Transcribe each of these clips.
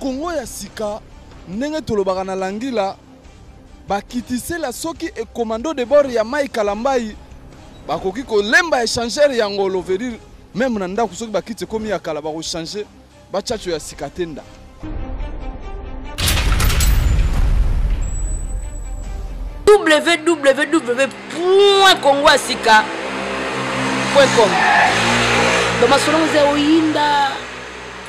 Congo ya sika ndenge tolobaka na langila bakitisela soki e commando de bord ya Mike Kalambayi bakoki kolemba échangeur ya ngolo veut dire meme na ndako soki bakiti ekomi ya kala bakochange bachacho ya sika te ndako www.congoasika.com. Domasolo mzee oyinda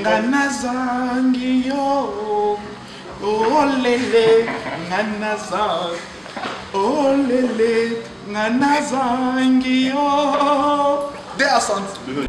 nga nazangi yo olele nga nazangi olele nga nazangi yo de asante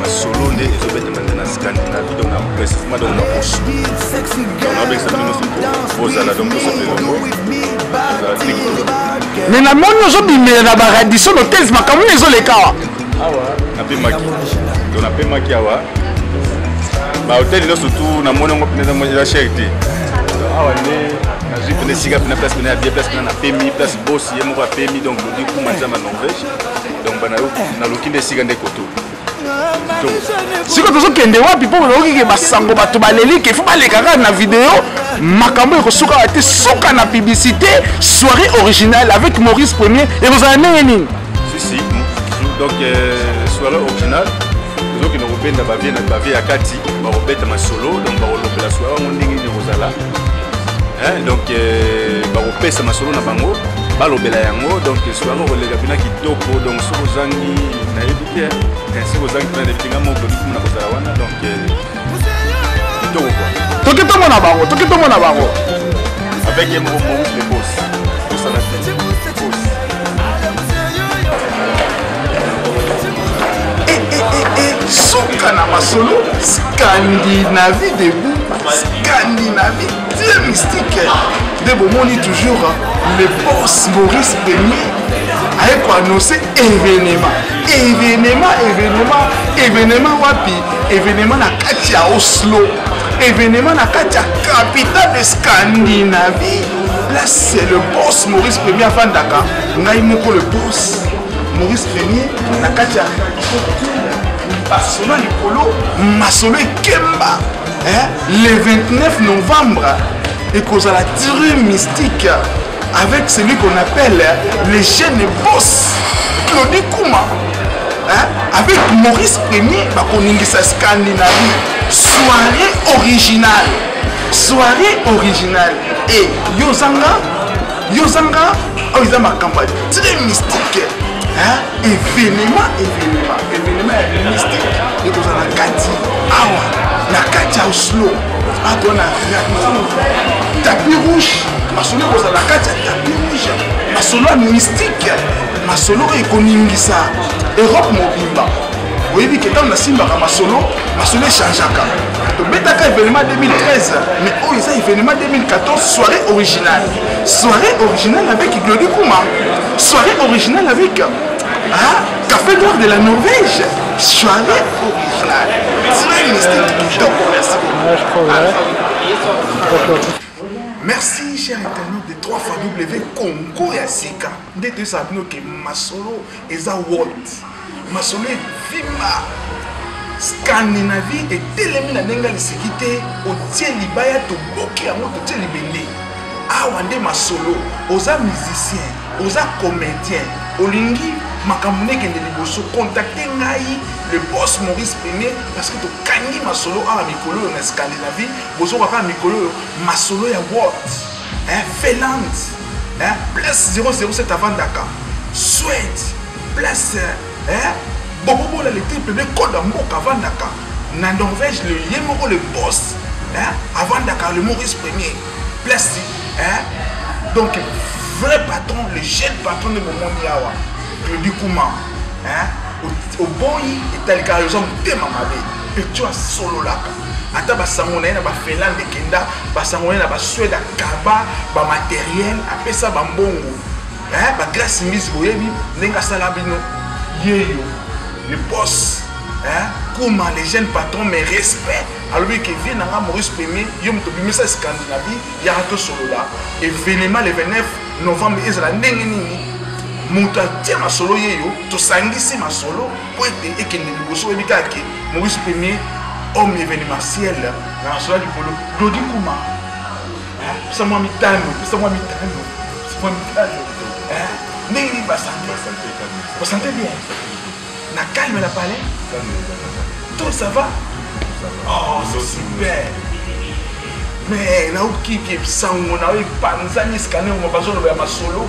masolo nde ezobetama nde na scandinavie donc na précisement donc na roche nabekisa bino soki ozala donc tosala elongo ozala tekolo me namoni ozobimela na baradison hotels makambo nde ezoleka awa awa napemaki to napemaki awa bahotel nyonso tu namoni yango mpenza mwa eza chere te awa nde nazwi mpena esika mpena place mpena ya bien place mpena napemi place bosi ye moko apemi donc lodi kuma eza na norvège donc bana yo naluki nde esika nde koto sikoyo tozokende wapi mpo nayoki ke basango bato baleli ke fo baleka kaka na video makambo ekosuka wa te suka na publicité soirée originale avec maurice premier ekozala ndenge nini sisi donc euh, soirée originale tozokende kobenda bavie na bavie ya kati bakobeta masolo donc bakolobela soirée yango ndenge nini ekozala hein, donc euh, bakopesa masolo na bango balobela yango donc soki yango koleka mpena kitoko donc soki ozangi nayebi te eh, soki ozangi mpena nayebi te nga moko lobi na kozala wana donc euh, kitoko kua toki tomona bango toki tomona bango avec ye moko mongile bos tosana te suka na masolo scandinavie debout scandinavie tie mystique nde bomoni toujours le boss maurice premier aye koannonce événement événement événement événement wapi événement na kati ya oslo événement na kati ya capitale de scandinavie là c'est le boss maurice premier afandaka ngai moko le boss maurice premier na kati ya basolo likolo masolo ekemba le 29 novembre ekozala tire mystique avec celui qu'on appelle le jeune boss claudi kuma hein? avec maurice premier bakoningisa scandinavie soirée originale soirée originale e yo ozanga yo zanga oyo eza makambo ya très mystique evenema evenema evenema ya mystique ekozala na kati awa na kati ya oslo akoya na raton tapi rouge masolo ekozala na kati ya tapi rouge masolo ya mystique masolo oyo ekoningisa europe mobimba oyebi ke ntango nasimbaka masolo masolo echangeaka tobetaka événement 2013 mais oyo eza événement 2014 soirée originale soirée originale avec glodi kuma soirée originale avec ah, café d'or de la norvège soirée originale très mystique kitoko merci merci cher internet de 3 fois w congo ya sika nde toyesaka bino ke masolo eza world masolo evimba scandinavie etelemi na ndenge ya liseki te otie libaya tobuki yango totie libende awa nde masolo oza musicien oza comédien olingi makambo nde ekende liboso contacte ngai le boss maurice premier parce que tokangi masolo awa mikolo oyo na scandinavie bozoka kaka mikolo oyo masolo ya world eh, Finlande eh, place 007 avandaka Suède place eh, bobobola le triple de code ya mboka avandaka na Norvège le ye moko le boss eh, avandaka le Maurice premier place eh, donc vrai patron le jeune patron nde bomoni awa claudi kuma oboyi etalika yo oza motema mabe mpe tyo asololaka ata basango na ye na bafinlande ekenda basango na ye na basuede akaba bamateriel apesa bambongo bagrâce mbisi boyebi ndenge asala bino yeyo le boss kuma les jeunes patrons mais respect alobi ke vie nanga maurice premier yo moto obimisa scandinavie yaka tosolola evenema le 29 novembre ezala ndenge nini moto atie masolo yeyo tosangisi masolo mpo ete ekende liboso oyebi kaka ke maurice premier homme événementiel na national likolo dodi kuma pesa mwa mitano pesa mwa mitano pesa mwa mitano ndenge nini basante basante bien na calme na palais tout ça va oh c'est super mais naokiki sango na oyo epanzani eskanema bazoloba ya masolo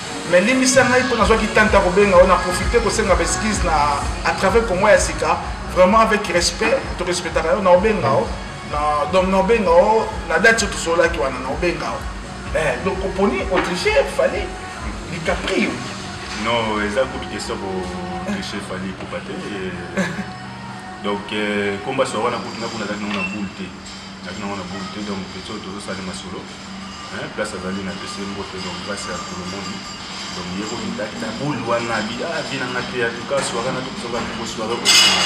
Mais limbisa ngai po nazwaki temps ta kobenga yo na profiter kosenga ba excuses na à travers Congo ya sika vraiment avec respect to respectaka yo na obenga yo na donc na obenga yo na date oyo tosololaki wana na obenga yo eh donc oponi otriche fallait likaprio non eza kutu question ko triche fallait kupa te donc komba soa wana kutu nakuna azalaki nango na boule te nazalaki nango na boule te donc peso tozosali masolo hein place azali na pesi mbote donc place ya kolomoni donc ye ko bindaki na boule wana bi ah vie na nga te ya tuka soirée na tokosaka moko soirée au final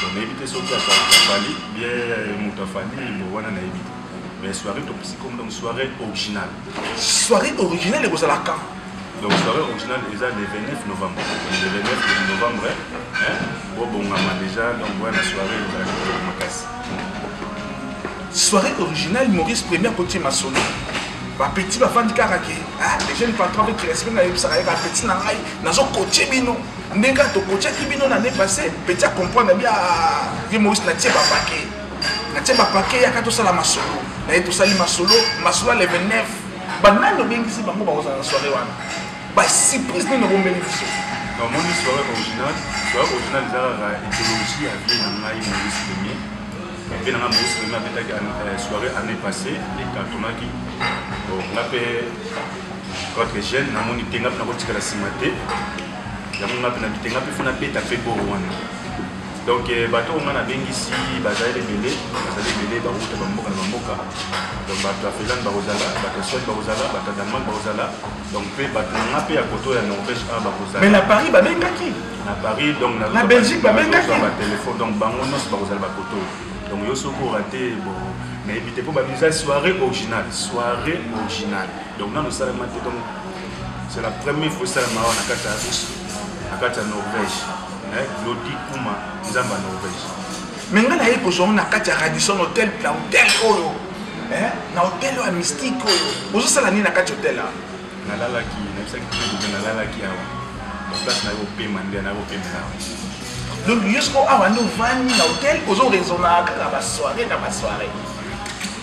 donc nayebi te soki afali bien moto afali bo wana nayebi te mais soirée topesi comme donc soirée originale soirée originale ekozala quand donc soirée originale eza le 29 novembre le 29 novembre bobongama déjà donc wana soirée ezalaki makasi soirée originale maurice premier akotie masolo bapeti bafandi kaka ke ah, les jeunes patron avec respect nayebisaka ye bapeti na ngai nazokotie bino ndenge kaka tokotiaki bino na ne passé peti acomprendre bia ye maurice natie bapake natie bapake yaka tosala masolo naye tosali masolo masolo ya le 29 banani obengisi bango bakozala na soirée wana Ba surprise nini obombeli biso? Na moni soirée original, soirée original eza kaka ideologie ya vie na ngai Maurice Premier. Vie na ngai Maurice Premier abetaki euh, soirée année passée et cartonnaki. Bon, nga pe quoique jeune na moni te nga pe nakotikala sima te. Yango nga pe na bite nga pe fona beta pe boro wana. Donc euh, bato oyo nga nabengisi bazali ebele, bazali ebele bawuta bamboka na bamboka. Donc bato ya Finlande bakozala, bato ya Suède bakozala, bato ya Danemark bakozala. donc mpe bato na nga mpe ya koto ya norvège awa bakozala mais na paris babengaki na paris donc na belgique babengaki batelefone donc bango nyonso bakozala bakoto donc yo soki orate bon nayebi te mpo babisa soirée originale soirée originale donc nano osalama te donc c'est la première fois esalama awa na kati ya russe na kati ya norvège claudi kuma nzambe ya norvège Mais nga naye kozwa ngo na kati ya Radisson Hotel na hotel oyo eh, na hotel oyo ya mystique oyo ozosala nini na kati hotel awa nalalaki nayebisaki mpe nalalaki awa place nayo opema nde nayo opemela awa donc yo soko awa nde ovandi na hotel ozoresona kaka basoire na basoire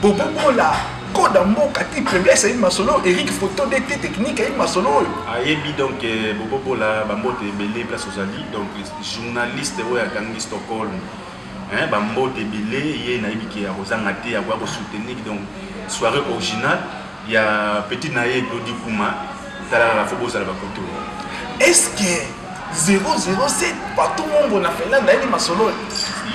Bobo bola koda mboka ti faiblesse ayebi masolo oyo eric photo de te technique ayebi masolo oyo ayebi donc euh, bobobola bambote ebele place ozali donc journaliste oyo akangi stockholm bambote ebele ye nayebi ke akozanga te akoya kosoutenir donc soirée originale ya petit na ye claudi kuma talalala fo bozala bakoto est ce que 007 patou mongo na finlande ayebi masolo oyo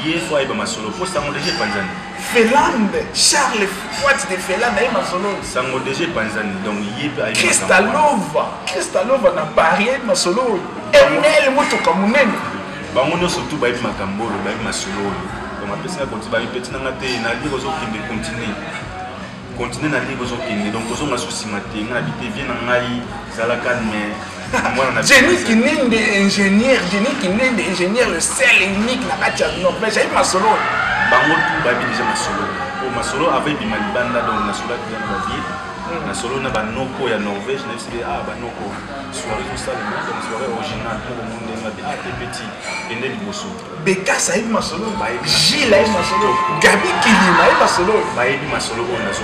ye fo ayeba masolo mpo sango deja epanzani finlande charles fuat de finlande aye masolo oyo sango deja epanzani donc ye mpe kristalova kristalova na paris ayebi masolo oyo ml motoka monene bango nyonso tu bayebi makambo oyo bayebi masolo oyo donc apesi nga konti bayebi mpe ntinanga te nalire ozokende continue continue na ndenge ozokende donc kozonga so nsima te nga na bite vie na ngai zala calme Jenny Kinende, ingénieur, Jenny Kinende, ingénieur, le seul unique na kati ya Norvège, ayebi masolo. Bango tu bayebi deja masolo. Po masolo avant ebima libanda donc na solo ya ba vie. Hmm. Na solo na ba noko ya Norvège na yebisi ah ba noko soirée tosala donc soirée originale pour le monde na ah te petit ende liboso. Bekas ayebi masolo oyo bayebi. Gilles ayebi masolo oyo. Gabi Kilima ayebi masolo oyo bayebi masolo oyo nazo.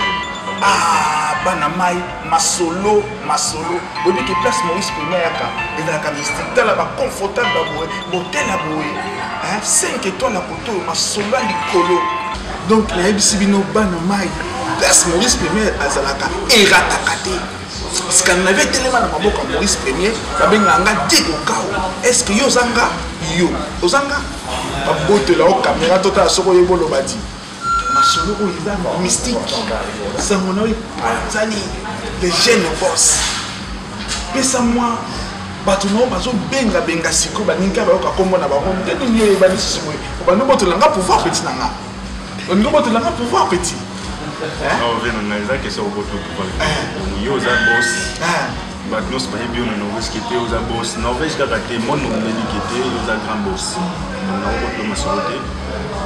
Ah bana mai masolo masolo oyebi ke place Maurice Pema yaka ezalaka mystique tala ba confortable ba boye hotel ya boye 5 étoiles ya koto oyo masolo ya likolo donc nayebisi bino bana mai place Maurice Pema azalaka erataka te. Scandinavie etelema na maboko ya Maurice Premier, babengaka nga Diego Kao. Est-ce que yo oza nga? Yo oza nga? Babotela yo kamera totala soki oyebi oloba ti. Masolo oyo eza mystique. Sango na yo epanzani le jeune boss. Pesa mwa bato na yo bazobengabenga sikoyo baninga bayoka nkombo na bango nde nini yo oyebani lisusu boye obandi obotola nga pouvoir peti na nga olingi obotola nga pouvoir petit ove na ngai eza question obotola pouvoir eh. yo oza bos eh. bato nyonso bayebi yo na norvège kete oza bos norvège kaka te monde omeli kete oza grand bos donc na obotola masolo te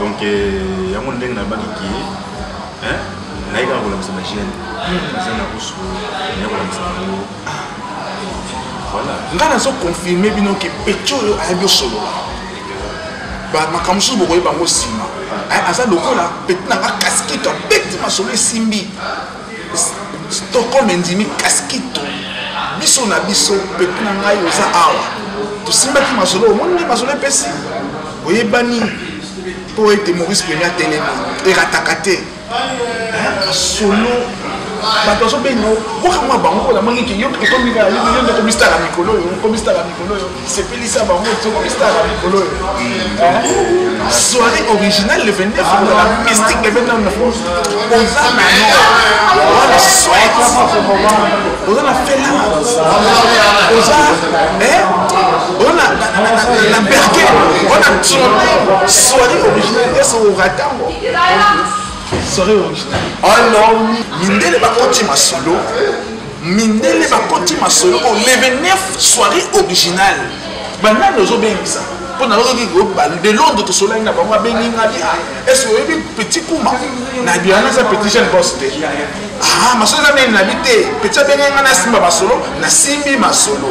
donc eh, yango ndenge nabaki ki naye kaka kolakisa bagene aza hmm. na kusu naye kolakisa bango ah. voilà nga nazo confirme bino ke pecho oyo ayebi osolola makambo mosusu bokoyeba yango nsima eh, aza lokola peti na nga kaskito abeti masolo esimbi stockholm endimi kaskito biso na biso peti na ngai oza awa tosimbaki masolo omoni nde masolo epesi oyebani mpo ete maurice premier atelemi erataka te ayaka solo bato azobenga okoka mwa bango mpo namongi ke yo ekomi kaka yo yo nde okomistala mikolo oyo okomistala mikolo oyo sepelisa bango okomistala mikolo oyo soirée originale le 29 la mystique le 29 oza na oza na swet oza na fela oza oza na berke oza na soirée originale ese oratango mindele bakoti masolo mindele bakoti masolo o 29 soirée originale banani ozobengisa mpo nayoki de londres tosolaki na bango abengi nga bi ese oyebi petit kuma na biana eza petit jeune bos te ah, masolo eza nini nabi te petit abengi nga nasimba masolo nasimbi masolo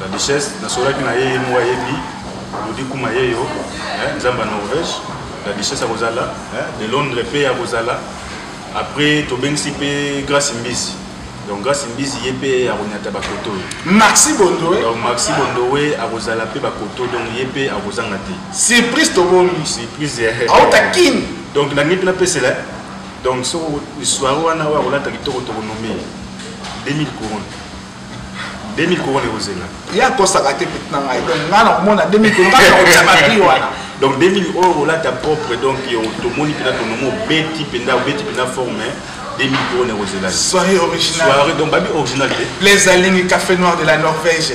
La duchesse nasolaki na ye ye moko ayebi lodi kuma ye yo eh, nzambe ya norvège la duchesse akozala eh, de londres mpe akozala après tobengisi mpe grace mbisi donc grace mbisi ye mpe akonyata bakoto oyo maxi bondoe donc maxi bondoe akozala mpe bakoto donc ye mpe akozanga te surprise tobombi surprise auta eh, eh, eh. kin donc nalingi mpe napesela donc so soire wana oyo akolata kitoko tokonome 2000 couronne 2000 couronne ekozela ye akosaka te peti na ngai donc ngai nakomona 2000 couronne kaka nakotia babri wana donc 2000 oyo olata propre donc tomoni mpenza tonomi obeti mpenza obeti mpenza forme 2000 couronne ekozela soirée originale soirée donc babi original te les alingi café noir de la norvège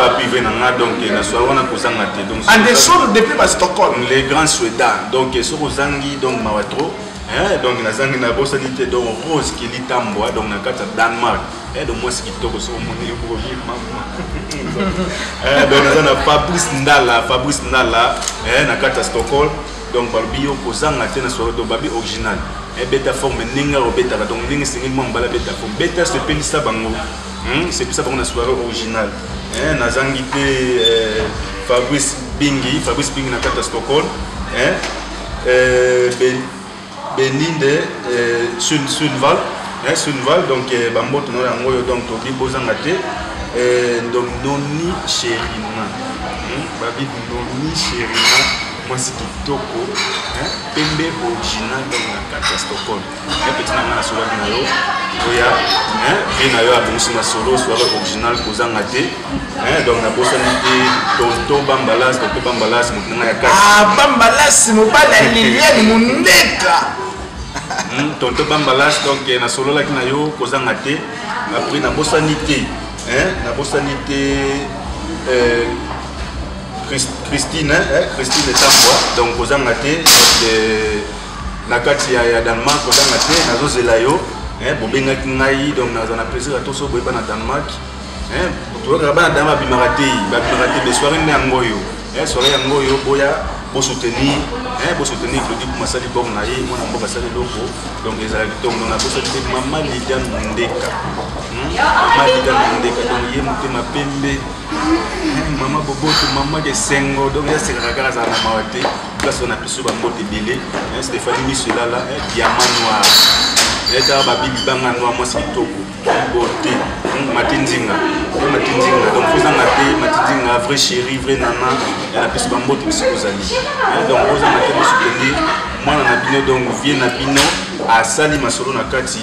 wapi ve na nga donc na soir wana kozanga te donc anderson depuis ba stockholm le grand sueda donc soki ozangi donc mawa trop eh, donc nazangi nabosani te donc rose kili tambwa donc na kati ya danemark eh, donc mwasi kitoko soki omoni ekokoki mama eh, donc naza na fabrice ndala fabrice ndala eh, na kati ya stockholm donc balobi yo kozanga te na soirée donc babi original ebeta forme ndenge obetaka donc ndenge esengeli mwa mobala abeta forme beta sepelisa bango Hmm, sepisa bango na soirée original eh, nazangi te eh, fabrice bingi fabrice bingi na kati ya stockholm eh, eh, ben, beninde eh, sun, sunval eh, sunval donc eh, bamboto na yango oyo donc tobi bozanga te eh, donc noni cherina hmm, babi noni cherina mwasi kitoko eh, pembe original donc na kati ya stockholm bien petit na ngai nasolaki na yo oya vie na yo abongisi masolo soare original kozanga te donc nabosani te tonto bambalas tonto bambalas moto na ngai ya kati ah, bambalas mobali ya liliane mondeka hmm, tonto bambalas donc eh, nasololaki na yo kozanga te après nabosani te nabosani te eh, christine christine etambwa donc kozanga te eh, na kati ya, ya Danemark ozanga te nazozela yo eh, bobengaki ngai donc naza na plaisir ya toso boyeba na Danemark eh, toyokaka bana dama babimaka te babimaka te be soirée nde yango oyo eh, soirée yango oyo boya bosoutenir eh, bosoutenir claudi kuma asali bor na ye mwana mboka asali eloko donc ezala kitoko donc nabosaki te mama lidiane mondeka hmm? mama lidiane mondeka donc ye motema pembe eh, mama boboto mama kesengo donc yasekaka kaka azala na mawa te place wana biso bambote ebele stephanie miso elala diama noir etaka babi libanga noir mwasi kitoko bote mati nzinga mati nzinga donc ozanga te mati nzinga vrai chéri vrai nana na biso bambote biso kozali donc ozanga te biso kende mwana na bino donc vie na bino asali masolo na kati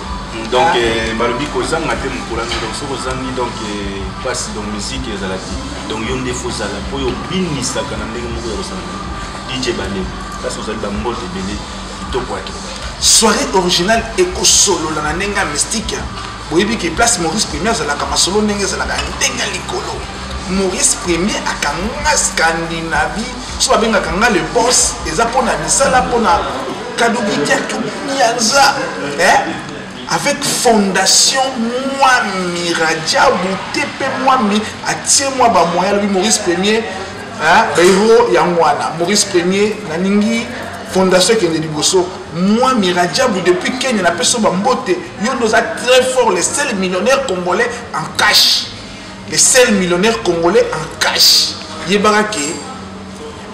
donc euh, balobi kozanga te mokolami donc soki ozangi donc mpasi euh, donc musike ezala te donc yo nde fozala mpo yo obinisaka na ndenge moko ya kosala dj bale kasi ozali bambote ebele kitoko ake soirée originale ekosolola na ndenge ya mystique boyebi ke place maurice premier azalaka masolo ndenge ezalaka ndenge ya likolo maurice premier akanga scandinavie so babengaka nga le boss eza mpona misala mpona kadokikiatu mianza eh? avec fondation mwami rajabu te mpe mwami atie mwa bamoya alobi maurice premier bairo yango wana maurice premier nalingi fondation ekende liboso mwami rajabu depuis kenya napesi yo bambote yo nde oza très fort le seul millionnaire congolais en cash Le seul millionnaire congolais en cash yebaka ke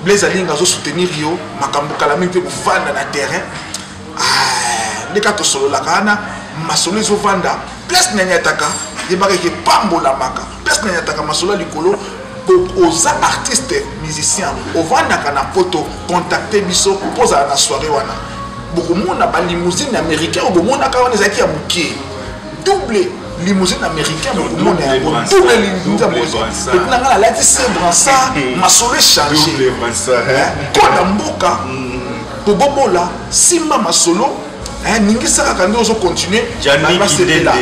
Blaise Alinga azo soutenir yo makambo kala mingi te kovanda na terrain ah, nde kaka tosololaka wana masolo ezovanda place na nyataka yebaka eke pambolamaka place na nyataka masolo ya likolo oza artiste musicien ovandaka na poto contacte biso mpo ozala na soirée wana bokomona balimousine américain oyo bomonaka wana ezalaki ya moke double limousine américain bokomona yango double limuza moepe na ngai nalati se bransa masolo echange koda mboka kobobola mm. simba masolo eh, ningisa kaka nde ozo continue basepela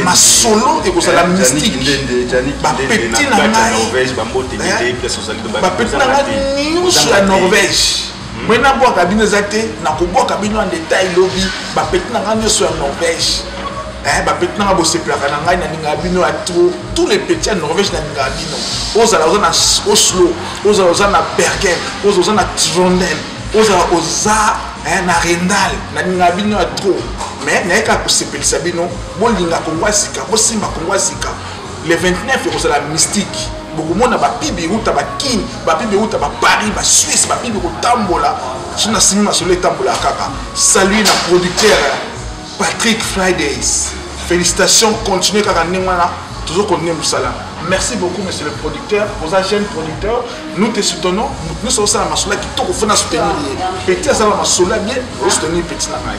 masolo ekozala eh, mystiquebapeti na ngai eh, bapeti na ngai nyonso ya norvège Ngai na bwaka bino eza te na ko bwaka bino en detail lobi ba petit na ngai nioso ya Norvège eh ba petit na ngai bo sepelaka na ngai na ninga bino ya trop tous les petits ya Norvège na ninga bino ozala oza na Oslo ozala oza na Bergen ozala oza na Trondheim ozala oza eh, na Rendal na ninga bino ya trop mais nayeka kosepelisa bino bolinga kongo ya sika bosimba kongo ya sika le 29 ekozala mystique bokomona bapibi euta bakin bapibi euta baparis basuisse bapibi kotambola so na simi masolo etambolaka kaka salut na producteur patrick fridays félicitation continue kaka ndenge wana tozo kontinue mosala merci beaucoup monsieur le producteur oza jeune producteur nous te soutenons moto nyonso osala masolo ya kitoko fona soutenir ye petit asala masolo ya bien osoutenir petit na ngai